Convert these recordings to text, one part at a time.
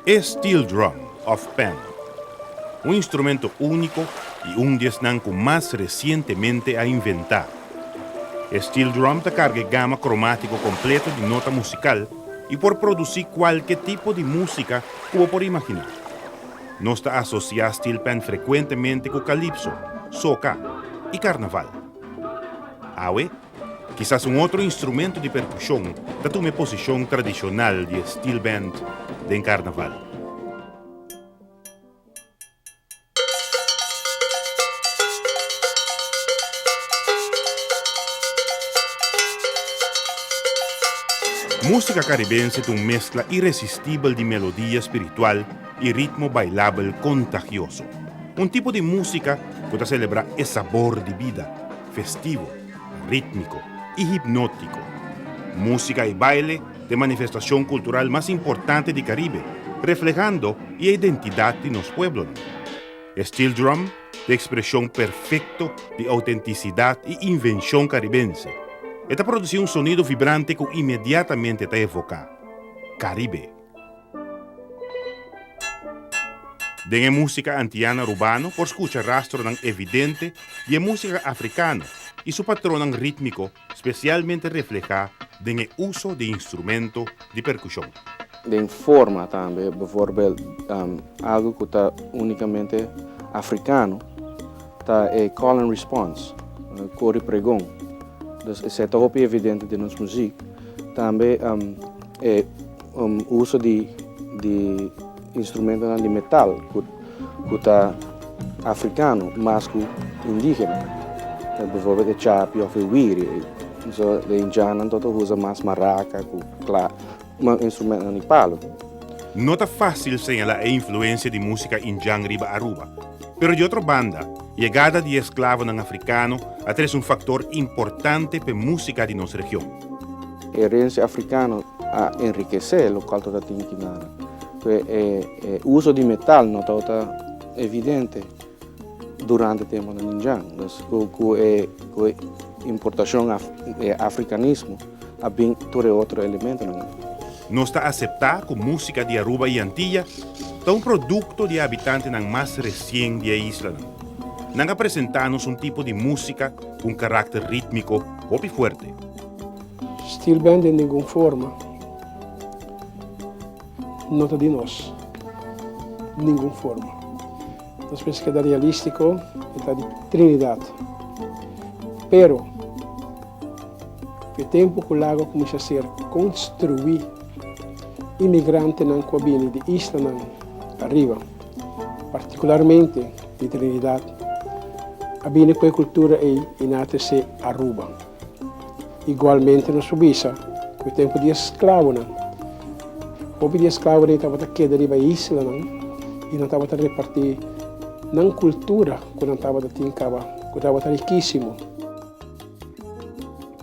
E steel drum of Pan, un instrumento úniko i un di esnan ku mas resientemente a inventá. E steel drum ta karga e gama kromátiko kompleto di nota musikal i por produsí kualke tipo di músika ku bo por imaginá. Nos ta asosiá steelpan frekuentemente ku kalipso, soka i karnaval. Awe, kisas un otro instrumentu di perkushon ta tuma e posishon tradishonal di e steel band den karnaval. Músika karibense ta un meskla iresistibel di melodia spiritual, i ritmo bailabel kontagioso. Un tipo di músika ku ta selebrá e sabor di bida, festivo, rítmiko i hipnótiko. Músika i baile ta e manifestashon kultural mas importante di Karibe, reflehando e identidat di nos pueblonan. E steel drum ta e ekspreshon perfekto di outentisidat i invenshon karibense. E ta produsí un sonido vibrante ku inmediatamente ta evoká Karibe. Den e músika antiana rubano por skucha rastronan evidente di e músika afrikano i su patronnan rítmiko spesialmente reflehá den e uso di instrumento di perkushon. Den forma tambe, bevorbèl algu ku ta únikamente afrikano ta e call and response, kori pregon, dus esei ta hopi evidente den nos muzik. Tambe. E uso di instrumentonan di metal ku ta afrikano mas ku indígena, bivorbèl e chapi òf e wiri, e indiannan tabata usa mas maraka ku kla, mas instrumentonan di palu. No ta fásil señalá e influensia di músika indian riba Aruba, pero di otro banda, yegada di e sklavonan afrikano a tres un faktor importante p'e músika di nos region. Herencia africano a enriquece lo cual tota tin ki na pe e uso di metal no tabata evidente durante tempo nan di djan. Nos cu e importacion e africanismo a bin tur e otro elementonan ey. Nos ta acepta cu musica di Aruba y Antilla ta un producto di e habitantenan mas recien di e islanan. Nan a presenta nos un tipo di musica cu un caracter ritmico hopi fuerte. Stil band den ningun forma no ta di nos, ningun forma. Nos mester keda realístiko, e ta di Trinidad. Pero ku e tempu ku lagu a kuminsá ser konstruí, imigrantenan ku a bini di islanan ariba, partikularmente di Trinidad, a bini ku e kultura ei i na ta esei Aruba. Igualmente nos por bisa cu e tempo di e sclavonan, hopi di e sclavo den tabata keda riba e islanan y nan tabata reparti nan cultura cu nan tabata tin caba, cu tabata riquisimo.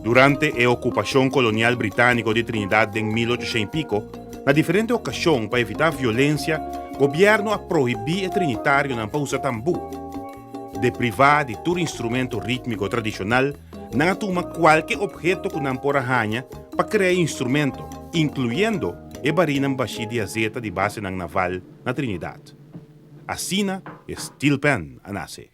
Durante e ocupacion colonial britanico di Trinidad den mil ochocientos y pico, na diferente ocasion pa evita violencia, gobierno a prohibi e trinitarionan pa usa tambu. de privá di tur instrumento rítmiko tradishonal, nan a tuma kualke opheto ku nan por a haña pa krea e instrumento, inkluyendo e barinan bashí di azeta di basenan naval na Trinidat. Asina e steel pan a nase.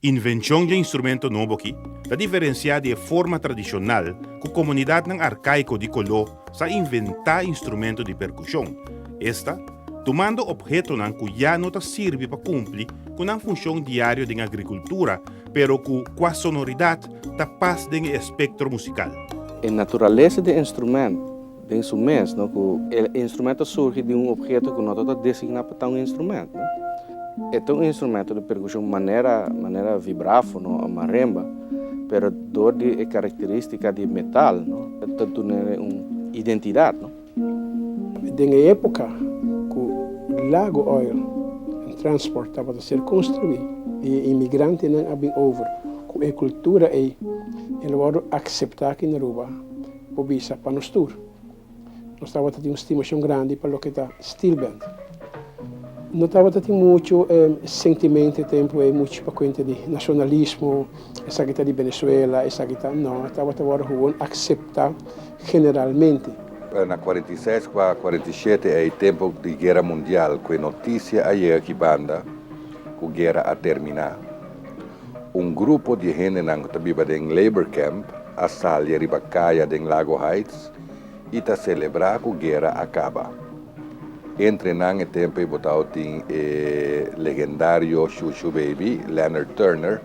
Invenshon dje instrumento nobo aki ta diferensiá di e forma tradishonal ku komunidatnan arkaiko di Koló sa inventá instrumento di perkushon, esta tumando ophetonan ku ya no ta sirbi pa kumpli ku nan funshon diario den agrikultura, pero ku kua sonoridat ta pas den e espektro musikal. E naturalesa di e instrumento den su mes, no, ku e instrumento ta surgi di un opheto ku no ta ta designá pa ta un instrumento, no. E ta un instrumento di perkushon manera manera vibráfono o marimba, pero dor di e karakterístika di metal, no, ta dun'e un identidat, no. Den e epoca cu Lago Oil and Transport tabata ser construi y e inmigrantenan a bin over cu e cultura ey, el a wordo acepta aki na Aruba, bo bisa pa nos tur. Nos tabata tin un stimacion grandi pa loke ta Steelband. No tabata tin mucho sentimento e tempo ey, mucho pa cuenta di nacionalismo, esaki ta di Venezuela, esaki ta, no, tabata wordo gewoon acepta. generalmente. Na cuarenta y seis cu a cuarenta y shete ey tempo di guera mundial cu e noticia a yega aki banda cu guera a termina. Un grupo di hendenan cu ta biba den labor camp a salia riba caya den Lago Heights y ta celebra cu guera a caba. Entre nan e tempo ey botao tin e legendario Shushu Baby, Leonard Turner.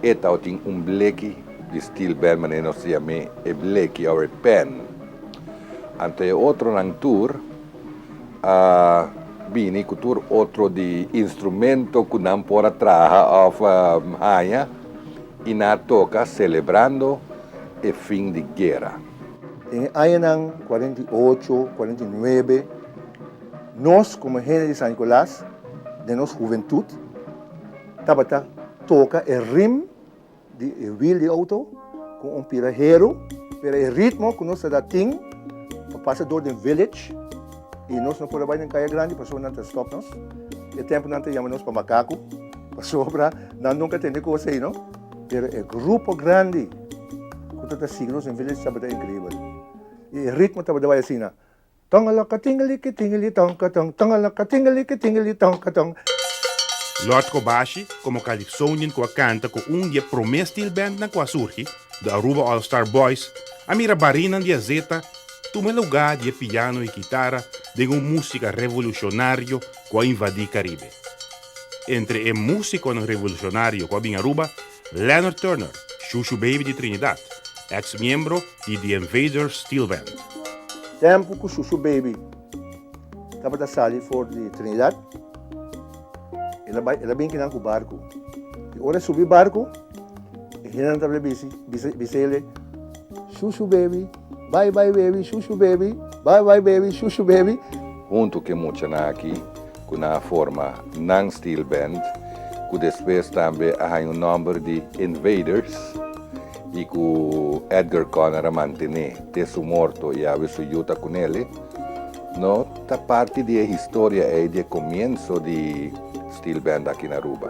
E tau tin un bleki di stil bèl manera nos ta yam'é e bleki òf e pèn. Anto e otronan tur a bini ku tur otro di instrumento ku nan por a traha òf haña i nan a toka selebrando e fin di guera. Den e añanan kuarenta i ocho, kuarenta i nuebe, nos komo hende di San Nikolas, den nos huventut, Tabata toka e rim di e wiel di outo ku un pira heru, pero e ritmo ku nos ta da tin pa pasa dor den village i nos no por a bai den kaya grandi pasobra nan ta stop nos. E tempu nan ta yama nos pa makaku pasobra nan nunka tende kos ei no. Pero e grupo grandi ku ta ta sigui nos den village tabata inkribel i e ritmo tabata bai asina. Tongalakatingalikitingalitonkaton, tongalakatingalikitingalitonkaton. Lord Kobashi, komo Calypsonian ku a kanta ku un di e promé steel bandnan ku a surgi, The Aruba All Star Boys, a mira barinan di azeta tuma lugá di e piano i kitara den un músika revolushonario ku a invadí Karibe. Entre e músikonan revolusionario ku a bin Aruba, Leonard Turner, Shushu Baby di Trinidad, eks miembro di The Invaders Steel Band. Tempu ku Shushu Baby tabata sali for di Trinidad, el a bin kinan ku barku. I ora e subi barku, e hendenan tabata bisi bisi ele, Shushu Baby, bai bai baby, Shushu Baby, bai bai baby, Shushu Baby. Huntu ku e muchanan aki, ku nan a forma nan steel band, ku despues tambe a haña un nòmber di Invaders i ku Edgar Conner a mantené te su morto i awe su yu ta ku nele, no ta parti di e historia ei di e komienso di steel band aki na Aruba.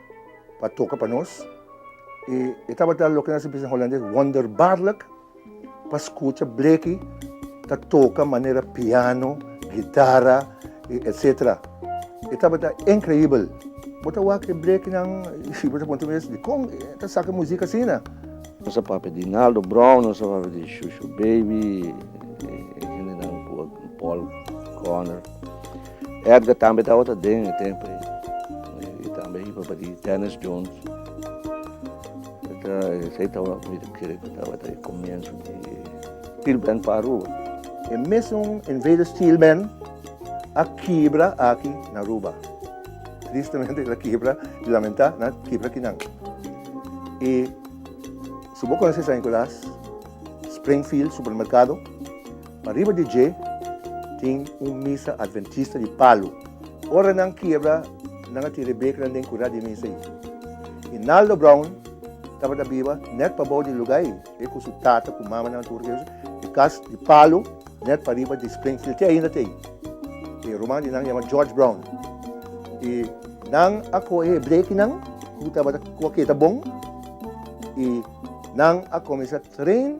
pa toka pa nos i e tabata loke nos a bisa na holandes wonderbaarlijk pa skucha Bleki ta toka manera piano, gitara i etsetera. E tabata inkreibel. Bo ta wak e Blekinan i bo ta puntra mes dikon e ta saka muzik asina? Nos a papia di Naldo Brown, nos a papia di Shushu Baby i e hendenan ku Paul Conner. Edgar tambe tabata den e tempo ei. E tambe a hiba pa di Dennis Jones. Esei tabata, mi ta kere ku tabata e komienso di Steel Band pa Aruba. E mesun Invaders Steel Band a kibra aki na Aruba. Tristemente el a kibra, i lamentá nan a kibra aki nan. I supo konosesaña ku las Springfield Supermerkado. Pa riba di dje tin un misa adventista di palu. Ora nan kiebra, nan a tin Rebekanan den kurá di misa ei. I Naldo Brown tabata biba nèt pabou di lugá ei, e ku su tata ku mama nan tur Deus e kas di palu nèt pariba di Springfield. Te ainda ta ei. E ruman di nan yama George Brown i nan a kohe e blekinan ku tabata kua keda bon i nan a kuminsá train.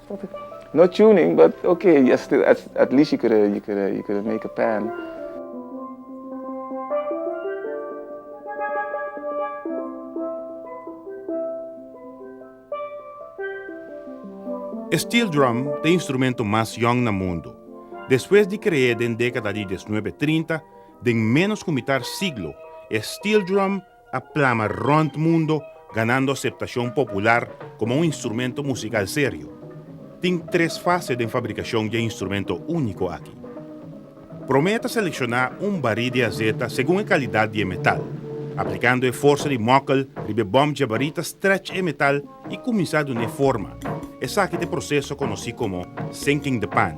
No tuning but ok ya still at least you coulda make a pan. E steel drum ta e instrumento mas yong na mundu. Despues di kre'é den dékada di dieznuebe trinta, den ménos ku mitar siglo, e steel drum, a plama rònt mundo ganando aseptashon popular komo un instrumento musikal serio. Tin tres fase den fabrikashon dje instrumento úniko aki. Promé ta selekshona un barí di azeta segun e kalidat di e metal, aplikando e forsa di mòkel riba e bòm dje barí ta strèch e metal i kuminsá dun'é forma, esaki ta e proseso konosí komo sinking the pan.